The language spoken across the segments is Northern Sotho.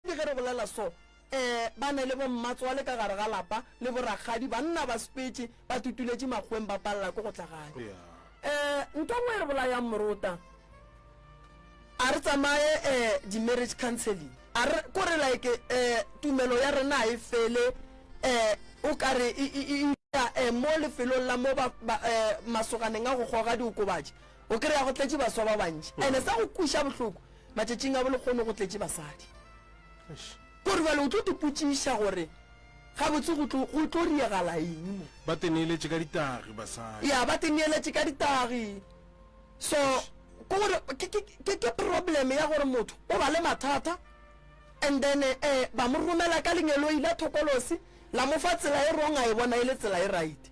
Ke ge re bolela so, ee, ba ne le bommatswale ka gare ga lapa le borakgadi, banna ba spetše, ba tutuletše makgweng ba palela ko go tla gae. Ee, ntho e nngwe e re bolayang morota, a re tsamaye ee, di-marriage counselling, a re, ko re like ee, tumelo ya rena ga e fele ee, o ka re e, e, e, e, ee, mo lefelong la mo ba, ba, ee, masoganeng a go goga diokobatši, O kry-a go tletše baswa ba bantši mm. ene sa go kweša bohloko matšatšing a bolekgono go tletše basadi kore bale o tlo tepotšiša gore gabotse go tlo riegala eng mo ba teneeletše ka ditagi basadi ya ba teneeletše ka ditagi so ke gore ke problem ya gore motho o ba le mathata and then um ba mo romela ka lengeloi la thokolosi la mo fa tsela e wrong a e bona e le tsela e right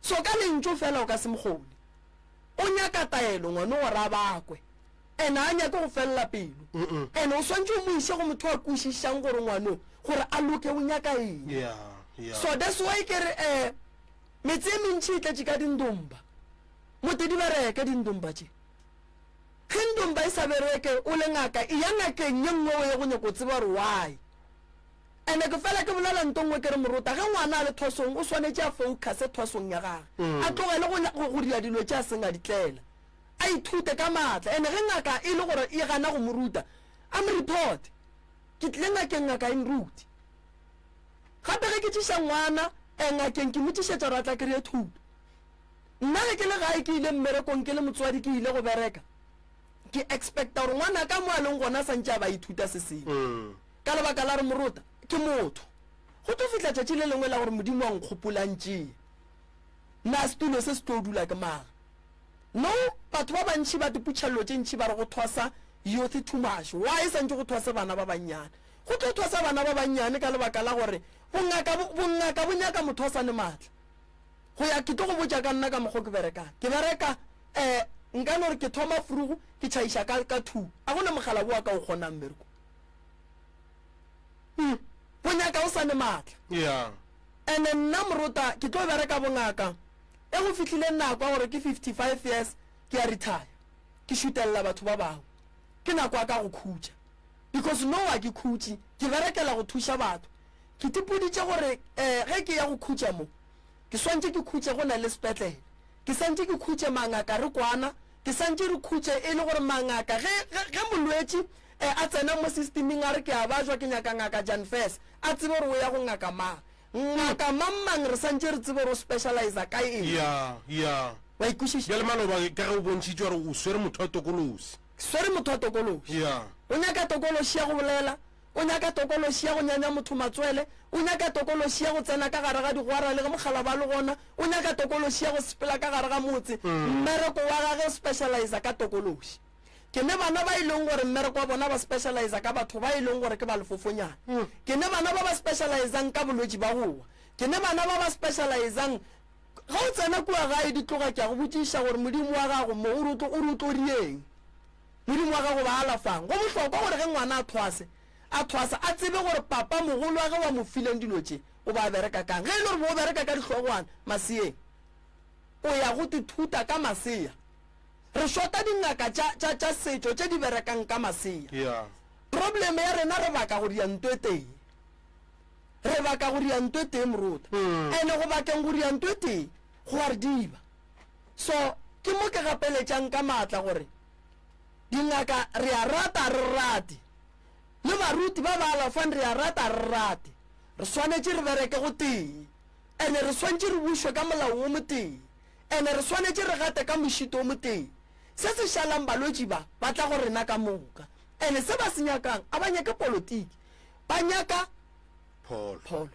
So ka lentšu fela o ka se mo kgone. O nyaka taelo ngwano gore a bakwe. And a nyake go felela pelo. And o swantše o mo iše go motho a kwešišang gore ngwano gore a loke o nyaka eng. Yeah, yeah. So that's why ke re eh metse e mentši e tletše ka dindomba. Mote di bereke dindomba tše. Ge ndomba e sa bereke o le ngaka e ya ngakeng ye nngwe o ye go nyaka go tseba gore why. Ene ke fela ke bolela nto nngwe ke re morota ge ngwana a le thwasong o swanetše a focuse thwasong ya gage, a tlogele go, go, go dira dilo tše a seng a di tlela. A ithute ka maatla. Ene ge ngaka e le gore e gana go mo ruta, a mo reporte. Ke tlile ngakeng ngaka e nrute. Gape ge ke tšiša ngwana eh, ngakeng ke mo tšišetša gore a tla kry-e thuto. Nna ge ke le gae ke ile mmerekong ke le motswadi ke ile go bereka, ke expecta gore ngwanaka mo a leng gona a sa ntše a ba a ithuta se sengwe. ka lebaka la re morota ke motho. Go tlo fihla tšatši le lengwe la gore Modimo a nkgopolantšee. Na setulo se se tlo dula ke mang? No, batho ba bantši ba diputšhello tše ntši ba re go thwasa youth too much. Why santše go thwase bana ba bannyane? Go tlo thwasa bana ba bannyane ka lebaka la gore bongaka bongaka bo nyaka motho a sa ne matla. Go ya ke tlo go botša ka nna ka mokgwa ke berekang. Ke bereka eh nka no re ke thoma frugu ke tšhaiša ka ka two. A go na mogala boa ka o kgonang mmereko. Hmm. O nyaka o sa ne matla. Yeah. Ene nna morota ke tlo bereka bongaka e go fihlile nako ya gore ke 55 years ke ya retire ke šutelela batho ba bangwe ke nako ya ka go khutša because no wa ke khutše ke berekela go thuša batho ke tipoditše gore um ge ke ya go khutša mo ke swantše ke khutše go na le sepetlele ke santše ke khutše mangaka re kwana ke santše re khutše e le gore mangaka ge molwetši E, a tsena mo sistiming a re ke a bajwa, ke nyaka Ngaka Jan Fess. A tsebe gore o ya go ngaka mang. Ngaka mang-mang re santše re tsebe gore o specializa ka eng. Ya, ya. Wa ikwešiša? Bjale maloba ka ge o bontšhitše gore o swere motho wa tokološi. Ke swere motho wa tokološi. Ya. O nyaka tokološi ya go bolela, o nyaka tokološi ya go nyanya motho matswele, o nyaka tokološi ya go tsena ka gare ga digwara le ge mokgalaba a le gona, o nyaka tokološi ya go sepela ka gare ga motse. Mmereko wa gage o specializa ka tokološi. Ke ne bana ba e leng gore mmereko wa bona ba specializa ka batho ba e leng gore ke ba lefofonyana. Ke ne bana ba ba specializang ka bolwetši ba go wa. Ke ne bana ba ba specializang Ge o tsena kua gae di tloga ke a go botšiša gore Modimo wa gago mo o re o re o tlo dieng. Modimo wa gago ba alafang. Go bohlokwa gore ge ngwana a thwase a thwasa a tsebe gore papa mogolo wa ge wa mo fileng dilo tše o ba bereka kang. Ge e le gore bo o bereka ka dihlogwana maseeng o ya go tithuta ka masea. Re shota dingaka tša, tša, tša setšo tše di berekang ka masea. Yeah. Problem ya rena re baka go dianto e tee. Re baka go dianto e tee moruta. Mm. Ene go bakeng go dianto e tee go a re diba. So ke mo ke gapeletšang ka maatla gore dingaka re a rata a re rate le baruti ba ba alafang re a rata a re rate re swanetše re bereke go tee. Ene re swantše re bušwe ka molao wo motee. Ene re swanetše re gate ka mošito wo motee. Se se šalang balwetši ba, ba tla go rena ka moka. Ene se ba se nyakang, a ba nyake politiki. Ba nyaka Pholo. pholo.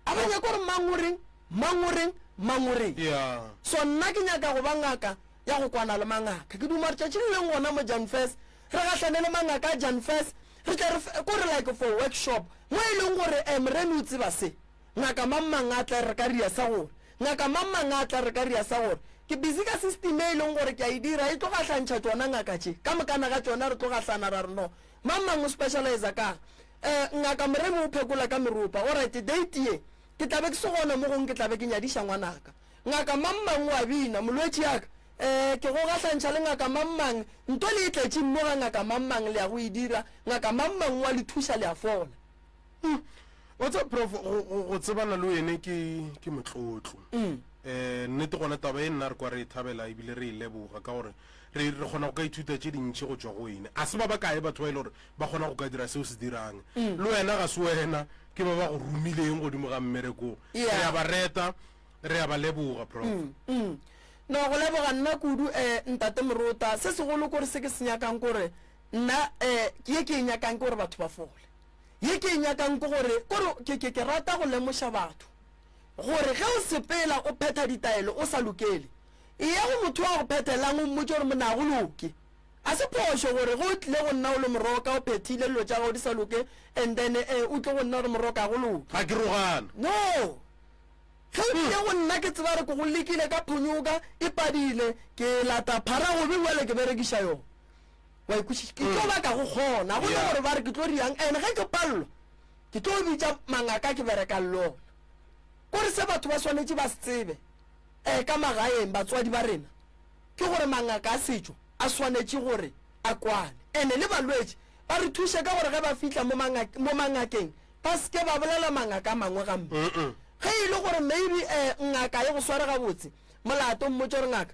A ba nyake gore mang o reng, mang o reng, mang o reng. Ya. So nna ke nyaka go ba ngaka ya go kwana le mangaka. Ke duma gore tšatši le leng gona mo Janfes, re gahlane le mangaka a Janfes, re tle re fe, ko re like for workshop, mo e leng gore, eh, Morena o tseba se. Ngaka mang mang a tla re ka ria sa gore, Ngaka mang mang a tla re ka ria sa gore, Ke busy ka system e e leng gore ke a e dira, e tlo gahlantšha tšona ngaka tše, ka mokana ga tšona re tlo gahlana ra re no. Mang mang o specializer ka'ng? Eh, Ngaka Moremi o phekola ka meropa. Alright, date ye, ke tla be ke se gona mo gongwe ke tla be ke nyadiša ngwanaka. Ngaka mang mang o a bina, Molwetši ya ka, eh, ke go gahlantšha le Ngaka mang mang, nto le e tletše mmo ga Ngaka mang mang, le ya go e dira, Ngaka mang mang o a le thuša, le a fola. Mm. wa tseba prof go- go go tsebana le wene ke ke motlotlo um nnete gona taba e nna re kwa re e thabela ebile re e leboga ka gore re re kgona go ka ithuta tše dintšhi go tswa go wene a se ba ba kae batho ba e le gore ba kgona go ka dira seo se dirang le wena ga se wena ke ba ba go romileng godimo ga mmerekong Yeah. re a ba reta re a ba leboga prof Mm. no go leboga nna kudu um ntate morota se segolo kore se ke se nyakang kore nna um ke ye ke e nyakang ke gore batho ba fole Ye ke e nyakang ke gore, ke gore ke, ke, ke rata go lemoša batho gore ge o sepela o phetha ditaelo o sa lokele, eya go motho wa go phethelang o mmotše gore monna ga go loke. Ga se phošo gore ge o tlile go nna o le moroka o phethile dilo tša gago di sa loke and then eh, o tle go nna gore moroka ga go loke. Ga ke rogana. No! Ge o tlile go nna ke tseba gore ke go lekile ka phonyoka e padile, ke lata phara gobe bjale ke berekiša yona. wa ikwešiša ke tlo baka go kgona go ne gore ba re ke tlo riang and ge ke palelwa ke tlo bitša mangaka ke berekang le ona kore se batho ba swanetše ba se tsebe um ka magaeng batswadi ba rena ke gore mangaka a setšo a swanetše gore a kwane and-e le balwetši ba re thuše ka gore ge ba fitlha mo mangakeng ba seke ba bolela mangaka a mangwe gampe ge e le gore maybe um ngaka e go sware gabotse molato mmotse gore ngaka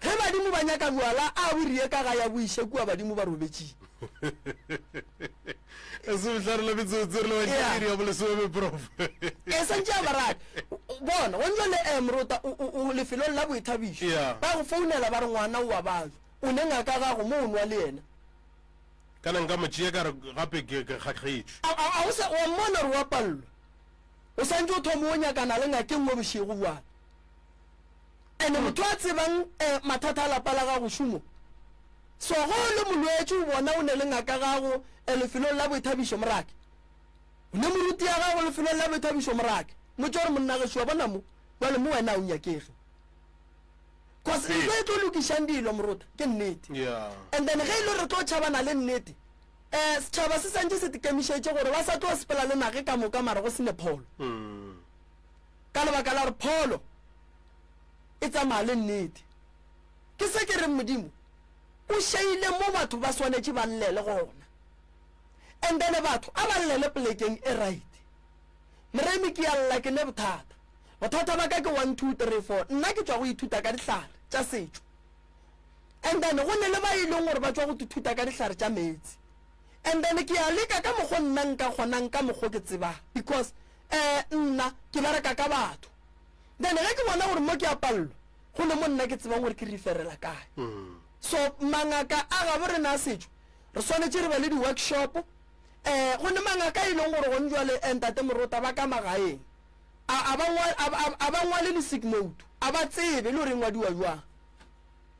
Ge badimo ba nyaka bjwala, a bo riye ka ga ya bo iše kua badimo ba robetšing. E se bohlare la metsotso re le batšea Yeah. iri ya bolesome prof. E santše a baradi. Bona, go ntšwa le eh, morota, o- o o lefelong la boithabišo. Yeah. Ba go founela ba re ngwana o wa batho. O ne ngaka gago mo o nwa le yena. Kana nka mo tšea ka re gape ke ke kgakgetšwe. A- a- a o sa- wa mmona gore wa pallwa. O santše o thoma o nyakana le ngakeng mo bošego bjale. Ene motho a tsebang eh, mathata a lapa la gago šumo. So go le molwetši o bona o ne le ngaka gago eh, lefelong la boithabišo morake. O ne moruti ya gago lefelong la boithabišo morake. Motse gore monna ge šua bona mo, jwale mo wena o nyakege. Cause Ee. ntho e tlo lokišang dilo morota ke nnete. Yeah. And then ge e le re tlo tšhabana le nnete, eh setšhaba se santše se tikemišetše gore ba sa tlo sepela le nage ka moka mara go sene pholo. Mm. Ka lebaka la gore pholo e tsamaya le nnete. Ke se ke reng Modimo o šeile mo batho ba swanetše ba llele gona. And then batho a ba llele plekeng e right. Moremi ke a lla ke ne bothata. Bothata ba ka ke one two three four. Nna ke tšwa go ithuta ka dihlare tša setšo. And then go ne le ba e leng gore ba tšwa go ithuta ka dihlare tša meetse. And then ke a leka ka mokgo nna nka kgonang ka mokgo ke tsebang because eh nna ke bereka ka batho. then ge ke bona gore mo ke a pallo go ne mo nna ke tsebang gore ke referela kae mm. so mangaka a gabo rena a setšo re swanetše re ba le di-workshop um eh, go ne mangaka e leng gore gone jale eh, ntate morota ba ka magaeng a ba ngwale le sigmoto a ba tsebe le gore e ngwadiwa jwang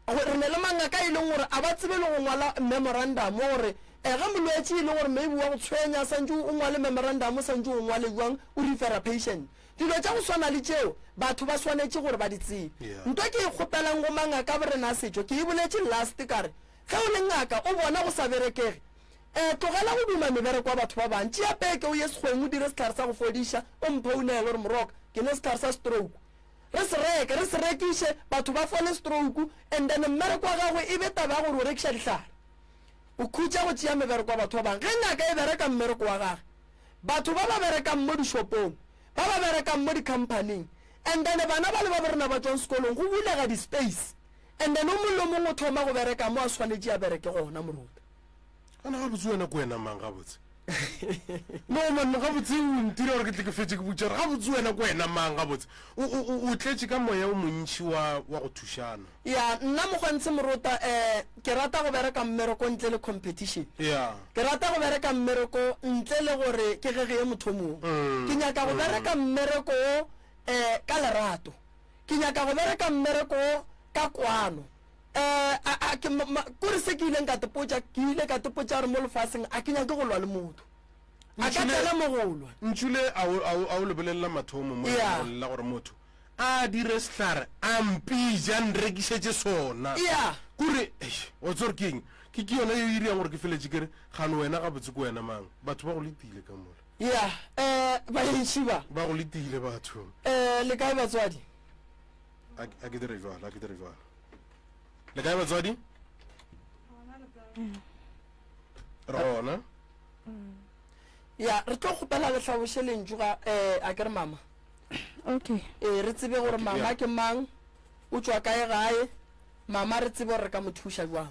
re ne le mangaka e leng gore a ba tsebe le go ngwala memorandum gore um ge molwetse e leng gore maybe wa go tshwenya santse o ngwale memorandum o santse o ngwale jwang o refera patient Dilo tša go swana le tšeo batho ba swanetše gore ba di tsebe. Nto ke e kgopelang go mangaka borena a setšo, ke e boletše last ka re, Ge o le ngaka o bona go sa berekege, um tlogela go duma mebereko ya batho ba bang. Tšea peke o ye sekgweng o dire sehlare sa go fodiša, o mphounele gore, Moroka, ke nwe sehlare sa stroke. Re se reke, re se rekiše, batho ba fole stroke, and then mmereko wa gagwe e be taba ya gore o rekiša dihlare. O khutša go tšea mebereko ya batho ba bang. Ge ngaka e bereka mmereko wa gage, Batho ba ba berekang mo dishopong, ba ba berekang mo dikhamphaning, and then bana ba le babo rena ba tšwang sekolong, go bulega di-space, and then o mongwe le o mongwe o thoma go bereka mo a swanetše a bereke gona, moruta. Gona gabotse wena ke wena mang gabotse? No man, gabotse o ntira gore ke tle ke fetše ke botša gore gabotse wena ke wena mang gabotse? O, o, o, o tletše ka moya o montši wa, wa go thušana. Ya, nna Mogwantshe Morota eh, ke rata go bereka mmereko ntle le competition. Ya. Ke rata go bereka mmereko ntle le gore ke ge ge ye motho o mongwe. Mm, Ke nyaka go mm. bereka mmereko wo eh, ka lerato. Ke nyaka go bereka mmereko wo ka kwano. Eh, a, a, ke, ma, ma, kore se ke ileng ka tepotša, ke ile ka tepotša gore mo lefaseng a ke nyake go lwa le motho. A ka Ntšhule- tsena mo go lwa. Ntšhule a o, a o, a o lebelela mathomo mo Ya. lengwalong la gore motho. A dire sehlare a mpija a nrekišetše sona. Eya. Ke gore, eish, wa tseba gore ke eng? Ke, ke yona yeo e irago gore ke feletše ke re, Gane wena gabotse ke wena mang? Batho ba go letile ka mola. Eya. Eh, baentši ba. Ba go letile batho. Eh, le kae batswadi? A, a ke dire bjalo, a ke dire bjalo. Le kae batswadi? Re gona. Eya, re tlo kgopela le hlaboše lentšu ga, eh, a ke re mama? okay ee re tsebe gore Okay, mama yeah. ke mang o tšwa kae gae mama re tsebe gore re ka mo thuša jwang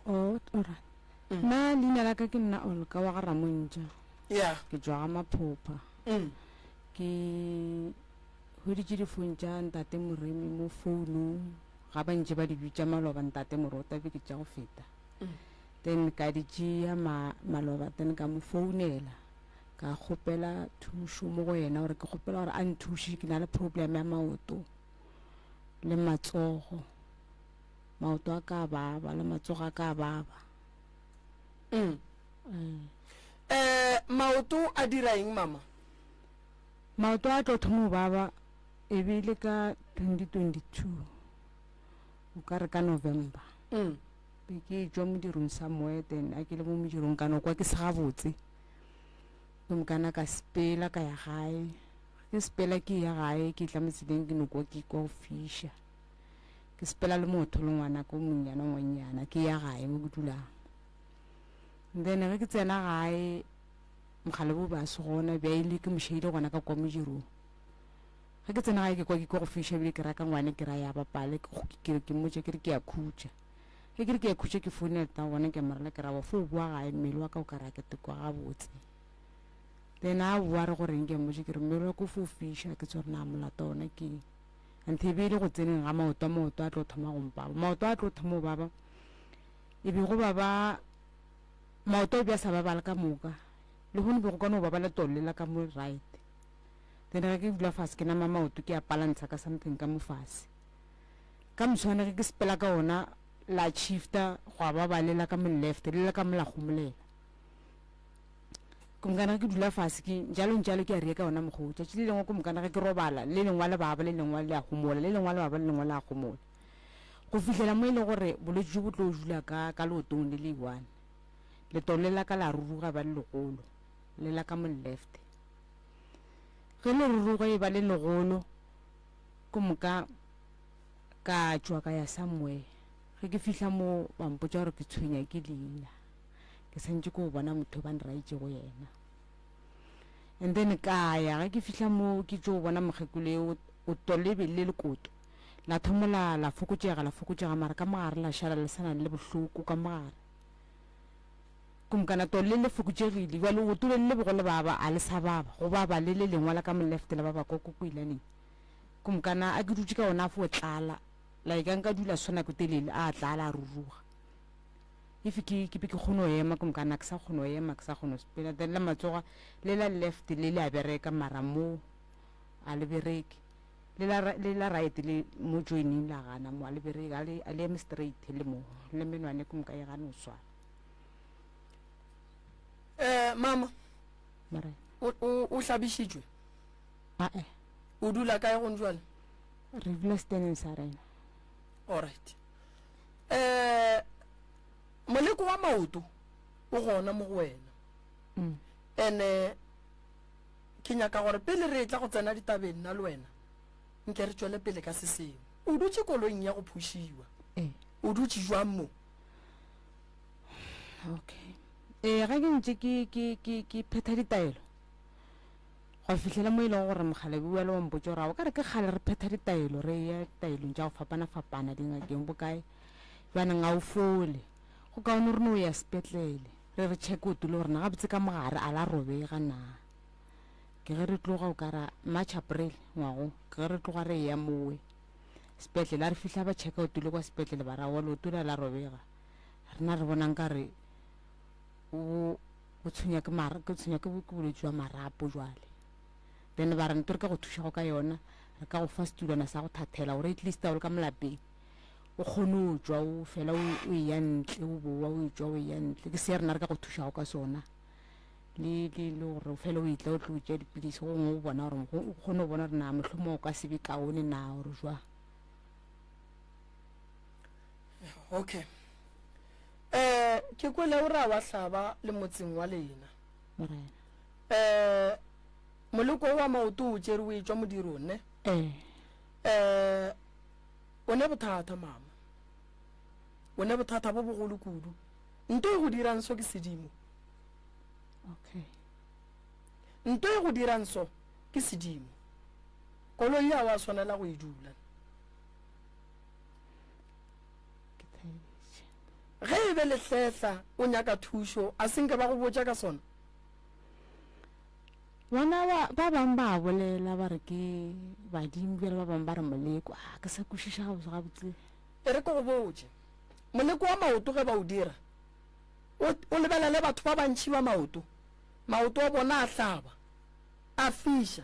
oh ora Mm. na leina la ka ke nna olka wa ga ramontša ya ke tswa ga maphopha mm. ke hweditše difone tša ntate moremi mo founung ga ba ntše ba di bitša maloba ntate morota be ke tša go feta Mm. then ka di tšea ma- maloba then ka mo founela ka kgopela thušo mo go yena gore ke kgopela gore a nthuše ke na le problem ya maoto le matsogo maoto a ka baba le matsogo a ka baba mm. Mm. Eh, maoto a dira eng mama maoto a tlo thomo baba e be le ka 2022 o ka re ka november mm. be ke jwa modirong sa moeten a ke le mo modirong kana kwa ke se gabotse Gomme ka na ka sepela ka ya gae. Ke sepela ke ya gae, ke tla mo tseleng ke no kwa ke kwa go fiša. Ke sepela le motho le ngwana ko monyana ngwanyana ke ya gae mo ke dulang. Then ge ke tsena gae mogale bo ba se gona bja ile ke mošeile gona ka kwa modirong. Ge ke tsena gae ke kwa ke kwa go fiša bile ke raka ngwane ke ra ya bapale ke ke ke mmotša ke re ke ya khutša. Ge ke re ke khutše ke founele ta gona ke morela ke rabo fo o boa gae mmele wa ka o ka ra ke tekwa gabotse le ena a boa re go reng ke mmotse ke re mmele wa ko fo fiša ke tsore na molato ona ke eng anthe e be e le go tseneng ga maoto a maoto a tlo thoma go mpaba maoto a tlo thoma go baba e be go baba maoto a be a sa babala ka moka le gone be go kwana go babala tolela ka mo right then ge ke dula fase ke nama maoto ke a palantsha ka something ka mo fase ka moswane ge ke sepela ka ona la shifta gwa ba ba lela ka mo left le ka mo la gomolela ke mokana ke dula fase ke jalo jalo ke a re ka ona mogo tšatši le lengwe ke mokana ge ke robala le lengwa le baba le lengwa le a gomola le lengwa le baba le lengwa le a gomola go fihlela mo e leng gore bolwetse jo bo tlo dula ka ka leotong le le one letolo le la ka la ruruga ba le legolo le la ka mo left ge le ruruga e ba le legolo Go moka ka tšwa ka ya somewhere ge ke fihla mo ba mpotsa gore ke tshwenya ke leina ke santse ko bona motho ba nraitšego yena and then ka ya ge ke fihla mo ke tšo bona mokgekolo e o tolebe le lekoto la thomola la fokotšega la fokotšega mara ka mogare la šala le sa nang le bohloko ka mogare Kumkana to le le fokutšegile, bjale o gotule le le bego le baba, a le sa baba, go baba le le lengwa la ka mo left la baba kwa kukuilaneng. Kumkana a ke dutše ka ona fo tlala, like a nka dula so nako telele, a tlala a ruruga. If ke, ke be ke kgone go ema, Kumkana a ke sa kgone go ema, ke sa kgone go sepela, then la matsoga le la left le le a bereka, mara mo a le bereke. Le la, le la right le mo joining la gana mo a le bereke, a le, a le eme straight le mo, le menwane Kumka e gane go swara. um mama Morena. o, o, o hlabišitšwe Ae, o dula kae gong jale re dula seteneng sa rena. alright um moleko wa maoto o gona mo go wena Mm. ene ke nyaka gore pele re tla go tsena ditabeng nna le wena nke re tšwele pele ka se sengwe o dutše koloing ya go phušiwa Ee. o dutše jwang mo okay ee ga ke ntse ke ke ke ke phetha ditaelo go fitlhela mo e leng gore mogalabi wa le wampotse gore o ka re ke kgale re phetha ditaelo re ya ditaelong tša go fapana-fapana dingakeng bokae jaanong ga o fole go kaone re ne o ya sepetlele re re check o tule gorena gabotse ka mogare a la robega na ke ge re tloga o kara march april ngwago ke ge re tloga re ya mowe sepetlele a re fihla ba checka o tule kwa sepetlele ba ra wa leoto la la robega rena re bonang ka re o o tshwenya ke mara ke tshwenya ke ke bolwetse jwa marapo jwale then ba re nto re ka go thuša go ka yona re ka go fa setulwana sa go thathela gore at least a o le ka molapeng o kgone o jwa o fela o e ya ntle o bowa o e jwa o e ya ntle ke se rena re ka go thušago ka sona le le le gore o fele o etla o tlo o tšea dipilisi go ngwe o bona gore o kgone go bona gore na mohlomong o ka se be kaone na gore jwa okay eh ke kwele o ra wa hlaba le motseng wa lena morena eh moloko wa maoto o tšere o etšwa modiro ne eh eh o ne bothata mama o ne bothata bo bogolo kudu nto e go dirang so ke sedimo Okay. Nto e go dirang so ke sedimo. Koloi ya wa swanela go e dula. Ge e be lehletla o nyaka thušo a senke ba go botša ka sona. Bona ba ba bang ba bolela ba re ke badimo bjale ba bang ba re moleko a ah, ke sa kwešiša gabotse gabotse. E re ke go botše moleko wa maoto ge ba o dira O, o lebelele batho ba bantši ba maoto, maoto a bona a hlaba, a fiša,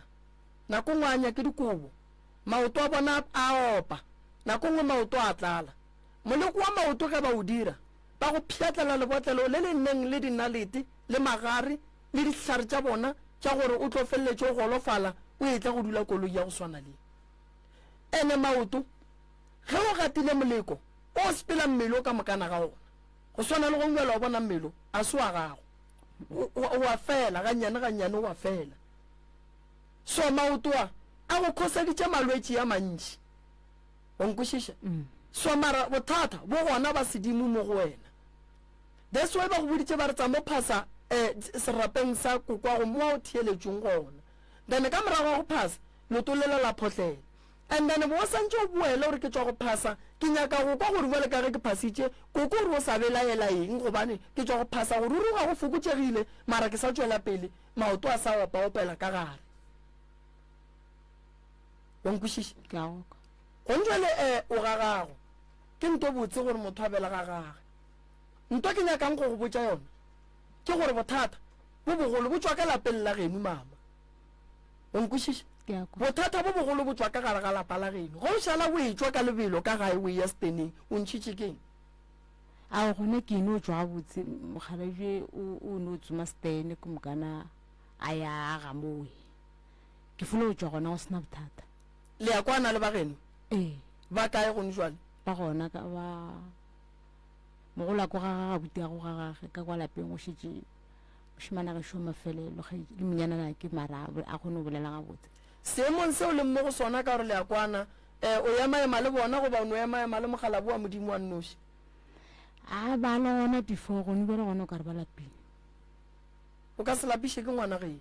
nako nngwe a anya ke dikobo, maoto a bona a opa, nako nngwe maoto a tlala. Moleko wa maoto ge ba o dira, ba go pšhatlela lebotlelo le le neng le dinalete le magare le dihlare tša bona tša gore o tlo feleletše o golofala o etla go dula koloi ya go swana le. Ene maoto, ge o gatile moleko, o sepela mmele o ka mokana ga ona. Go swana le gongwe bjalo, wa bona, mmelo a se wa gago. O, o a fela, gannyane gannyane o a fela. So maoto a, a go khoseditše malwetši a mantši. O nkwešiša? Mm. So mara bothata bo gona ba sedimo mo go wena. That's why ba go boditše ba re tsa mo phasa eh, serapeng sa kokwa go mo wa o theeletšong gona. Then ka morago ga go phasa, leoto lela la photlela. And then bo o santše o boele o re ke tšwa go phasa, ke nyaka go kwa gore bjale ka ge ke phasitše, koko o re o sa belaela eng gobane ke tšwa go phasa, go ruruga go fokotšegile mara ke sa tšwela pele, maoto a sa opa-opela ka gare. Wa nkwešiša? Ke a go kwa. Gong jwale e, o ga gago. Ke nto botse gore motho a bela ga gage. Nto ke nyakang go go botša yona ke gore bothata bo bogolo bo tšwa ka lapeng la genu, mama. O nkwešiša? Ke a kwa. Bothata bo bogolo bo tšwa ka gare ga lapa la geno. Ge o šala o etšwa ka lebelo ka gae o eya seteneng, o ntšhitše ke eng? Ao, gona ke no tšwa gabotse, mokgalabje o, o no tsoma setene ke moka na a ya a ga mowe. Ke fula go tšwa gona go sena bothata. Le ya kwana le ba geno? Ee. Ba kae gone jwale? Ba gona ka ba, mogolwako ga ga gabuti ya go ga gage ka kwa lapeng go šetše Mošemane a gešo mafelelo ge le monyanana ke mara a kgone go bolela gabotse. Seemong se o leng mo go sona ka gore le a kwana, eh, o ema-ema le bona goba o no ema-ema le Mokgalabo wa Modimo wa nnoši? A ba le gona before, gone bjale gona o ka re ba lapile. O ka se lapiše ke ngwana geno.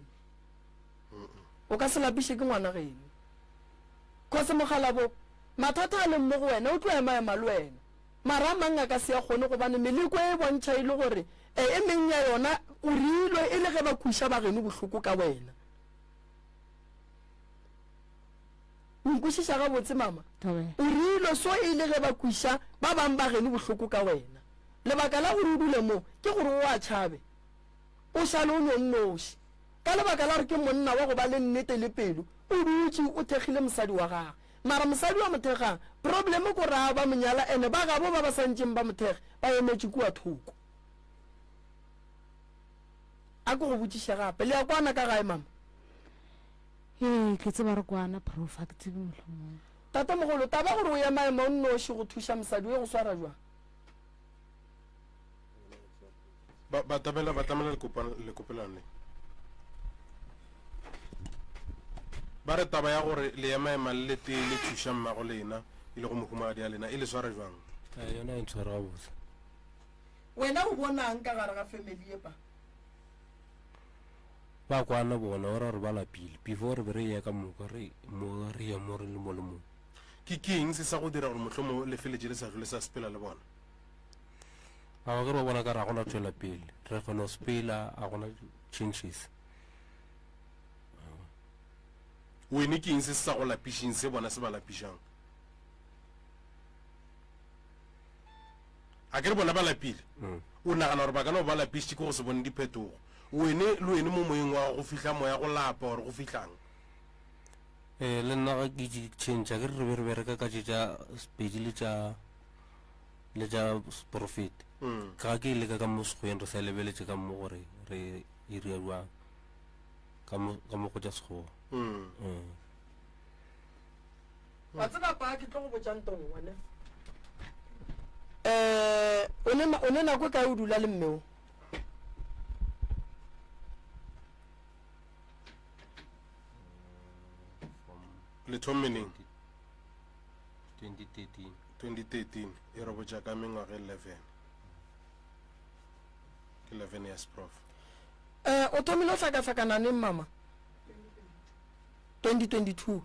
O ka se lapiše ke ngwana geno. Kgosi Mokgalabo, mathata a leng mo go wena o tlo ema-ema le wena. Mara a mang a ka se a kgone gobane meleko e e bontšha e le gore e e meng ya yona o reilwe e le ge ba kweša bageno bohloko ka wena. O nkwešiša gabotse, mama? O reilwe so e le ge ba kweša ba bang bageno bohloko ka wena. Lebaka la gore o dule mo ke gore o a tšhabe, o šale o no nnoši. Ka lebaka la gore ke monna wa go ba le nnete le pelo, o dutše o thekgile mosadi wa gagwe. Mara mosadi wa mothekga problem ko raa ba monyala ene ba gabo ba ba santšeng ba mothekge ba emetše kua thoko. A ko go botšiše gape le ya kwana ka gae mama? Ee ke tseba re kwana prof a ke tsebe mohlomong. Tatemogolo, taba gore o ya maemo o nnoši go thuša mosadi o ye go swara jwang? ba ba tabela ba tlamela lekopelano le ba re taba ya gore le ema ema le letee le thuša mmago lena e le go mohumagadi ya lena e le sware jwang eh, yona e ntshwara gabotse wena o bonang ka gare ga family epa ba kwana bona o ra gore ba lapile before re be re ye ka moka re mo re ye mo re le mo le mong ke keng se sa go dira gore motlhomo le feletse le sa tlole sa sepela le bona Ao ge ba bona ka ra gona tšwela pele re go no spela a gona changes wene ke eng se se sa go lapišeng se bona se ba lapišang a ke re bona ba lapile mm. o nagana gore ba ka no ba lapišitše ke go se bone diphetogo wene le wene mo moyeng wa go fihla moya go lapa gore go fihlang um le nna ga ke change a ke re re be re bereka ka tše tša sepedi le tša le tša seporofeti ga ke leka ka mo sekgweng re sa lebeletše ka mo gore re e ria jwang ka mo ka mo go tša sekgowa Mm. wa tseba pa ke tlo go botšang tong one um o ne na- o ne nako e kae o dula le mmeo le thommeneng 2013 e re botša ka mengwaga 11 ke 11 years prof um o thomile o hlakahlakana neng mama 2022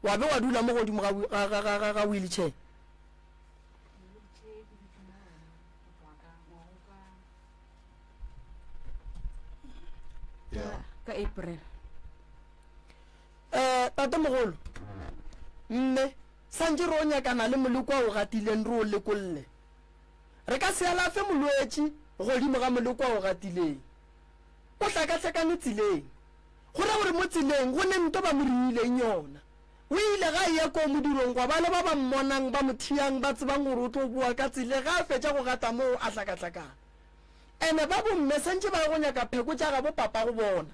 wa be wa dula mo godimo ga wheelchair ka april Eh, tatemogolo, mme, santše re o nyakana le moleko a o gatileng re o lekolle. Re ka se alafe molwetši godimo ga moleko a o gatileng. O hlakahlakane tseleng. Go ra gore mo tseleng go ne nto ba mo riileng yona. O ile ga eya koo modirong gwa ba le ba ba mmonang ba mo thiyang ba tsebang gore o tlo boa ka tsele ga a fetša go gata moo a hlakahlakana. Ene ba bomme santše ba ye go nyaka pheko tša gabo papa go bona.